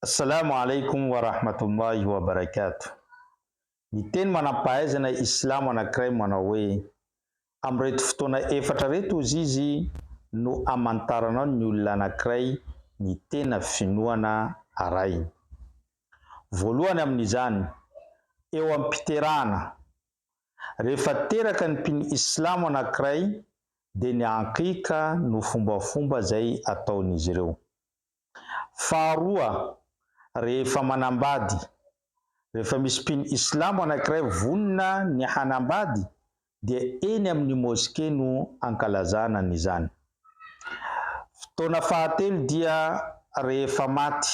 Assalamu alaikum wa rahmatullahi wa barakatuh Ny teny manam-pahaizana islamo anankiray manao hoe, Amin'ireto fotoana efatra ireto hozy izy no hamantaranao ny olona anankiray ny tena finoana arahiny. Voalohany amin'izany, eo am-piterahana, rehefa teraka ny mpino islamo anankiray dia ny aqiqa no fombafomba izay ataon'izy ireo. Faharoa, rehefa manambady. Rehefa misy mpino islamo anankiray vonona ny hanambady dia eny amin'ny moske no ankalazana an'izany. Fotoana fahatelo dia rehefa maty.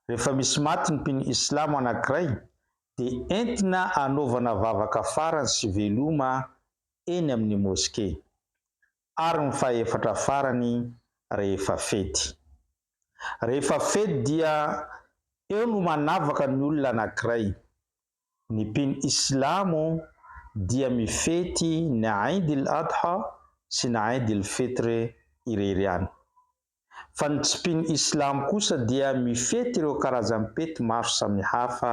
Rehefa misy maty ny mpino islamo anankiray dia entina anaovana vavaka farany sy veloma eny amin'ny moske. ary ny fahefatra farany rehefa fety. Rehefa fety dia eo no manavaka ny olona anankiray. Ny mpino islamo dia mifety ny Aid il-Adha sy ny Aid il-Fitr irery ihany. Fa ny tsy mpino islamo kosa dia mifety ireo karazam-pety maro samihafa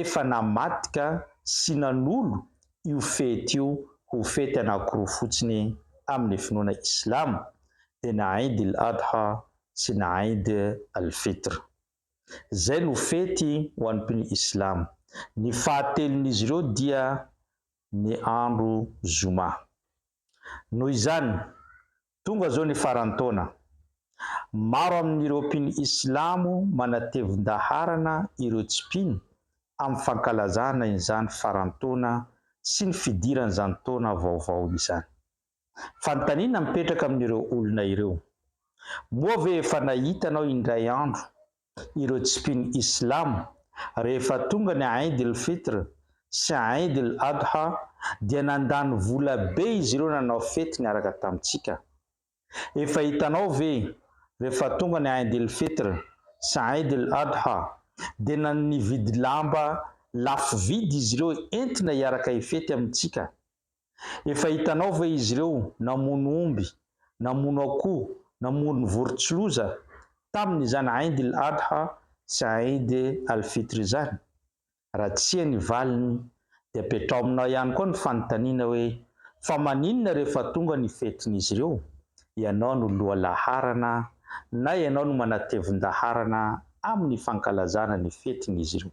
efa namadika sy nanolo io fety io ho fety anankiroa fotsiny amin'ny finoana islamo dia na Eid il Adha sy na Eid al Fitr. Izay no fety ho an'ny mpino islamo. Ny fahatelon'izy ireo dia ny andro zoma. Noho izany, Tonga izao ny faran'ny taona. Maro amin'ireo mpino islamo manatevin-daharana ireo tsy mpino amin'ny fankalazana izany faran'ny taona sy ny fidiran'izany taona vaovao izany. Fanontaniana mipetraka amin'ireo olona ireo. Moa ve efa nahitanao indray andro ireo tsy mpino Islam, rehefa tonga ny Aïd el Fitr sy Aïd el Adha dia nandany vola be izy ireo nanao fety niaraka tamintsika. Efa hitanao ve, rehefa tonga ny Aïd el Fitr sy Aïd el Adha dia nan nividy lamba lafo vidy izy ireo entina hiaraka hifety amintsika. Efa hitanao ve izy ireo namono omby, namono akoho, namono vorontsiloza tamin' izany Aid il Adha sy Aid al Fitr izany? Raha tsia ny valiny dia apetraho aminao ihany koa ny fanontaniana hoe, fa maninona rehefa tonga ny fetin' izy ireo, ianao no loha laharana na ianao no manatevin-daharana amin' ny fankalazana ny fetin' izy ireo?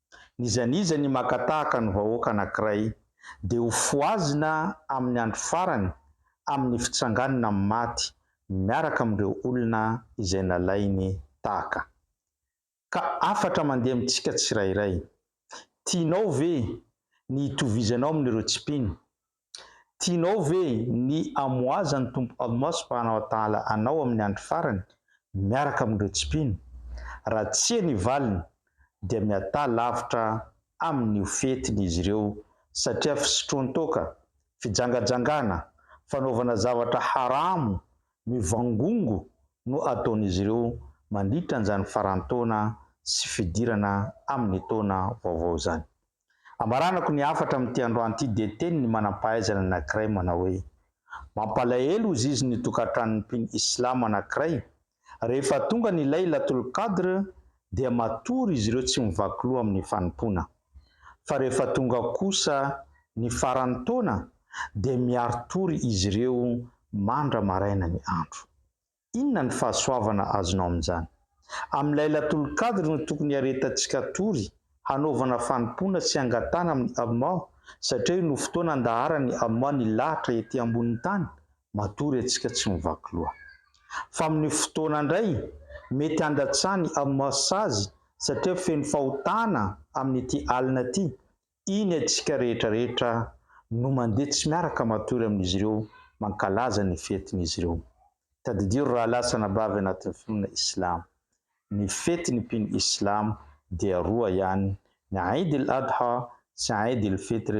N'iza n'iza ny maka tahaka ny vahoaka anankiray dia ho fohazina amin'ny andro farany amin'ny fitsanganana amin'ny maty miaraka amin'ireo olona izay nalainy tahaka. Ka hafatra mandeha amintsika tsirairay. Tianao ve ny hitovizanao amin'ireo tsy mpino? Tianao ve ny hamohazan'ny Tompo Allah subhanahu wa ta'ala anao amin'ny andro farany miaraka amin'ireo tsy mpino? Raha tsia ny valiny dia miatà lavitra amin'io fetiny izy ireo satria fisotroan-toaka, fijangajangana, fanaovana zavatra haramo, mivangongo no ataon'izy ireo mandritra an'izany faran-taona sy fidirana amin'ny taona vaovao izany. Hamaranako ny hafatra amin'ity androany ity dia teny ny manam-pahaizana anankiray manao hoe, Mampalahelo ho zizy ny tokantranon'ny mpino Islam anankiray, rehefa tonga ny Laylatul Qadr dia matory izy ireo tsy mivaky loha amin'ny fanompoana, fa rehefa tonga kosa ny faran'ny taona dia miari-tory izy ireo mandra-maraina ny andro. Inona ny fahasoavana azonao amin'izany? Amin'ilay latolon-kadry no tokony hiaretantsika hatory, hanaovana fanompoana sy hangatahana amin'i Allah, satria io no fotoana andaharan'i Allah ny lahatra ety ambonin'ny tany, matory antsika tsy mivaky loha. Fa amin'io fotoana indray, mety handatsahan'i Allah sazy satria feno fahotana amin'ity alina ity, Iny antsika rehetra rehetra no mandeha tsy miaraka matory amin'izy ireo mankalaza ny fetin'izy ireo. Tadidio ry rahalahy sy anabavy anatin'ny finoana Islam. Ny fetin'ny mpino Islam dia roa ihany, ny Eid el Adha sy Eid el Fitr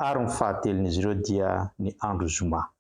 ary ny fahatelon'izy ireo dia ny andro Zoma.